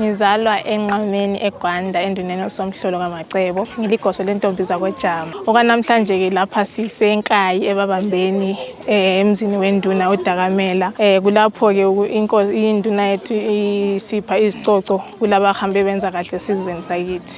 Ngizalwa enqameni eGwanda enduneni osomhlolo kamacebo ngiligoso lentombi zakojama okwanamhlanje ke lapha sisenkayi ebabambeni eh, emzini wenduna udakamela eh, kulapho ke induna yethu isipha izicoco kulabahambe benza kahle esizweni sakithi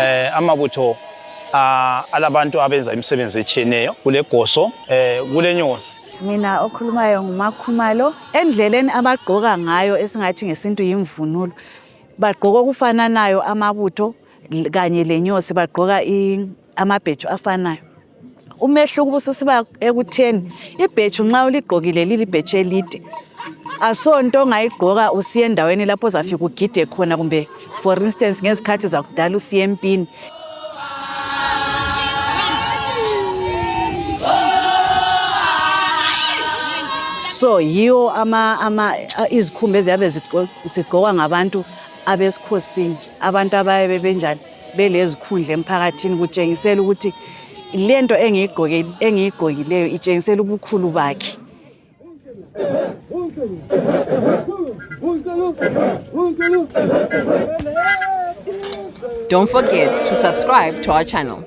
eh amabutho ah, alabantu abenza imisebenzi etshiyeneyo kule goso eh kule nyosi mina okhulumayo ngumakhumalo endleleni abagqoka ngayo esingathi ngesintu yimvunulo bagqoka okufananayo amabutho kanye lenyosi bagqoka amabhetshu afanayo umehluko ubususiba ekutheni ibhetshu nxa uligqokile lilibhetshu elide asonto ongayigqoka usiye endaweni lapho ozafika ugide khona kumbe for instance ngezikhathi zakudala usiye empini so yiwo ama ama izikhumba eziyabe zigqokwa ngabantu abesikhosini abantu abayabe benjani belezikhundla emphakathini kutshengisela ukuthi lento engiyigqokileyo itshengisela ubukhulu bakhe Don't forget to subscribe to our channel.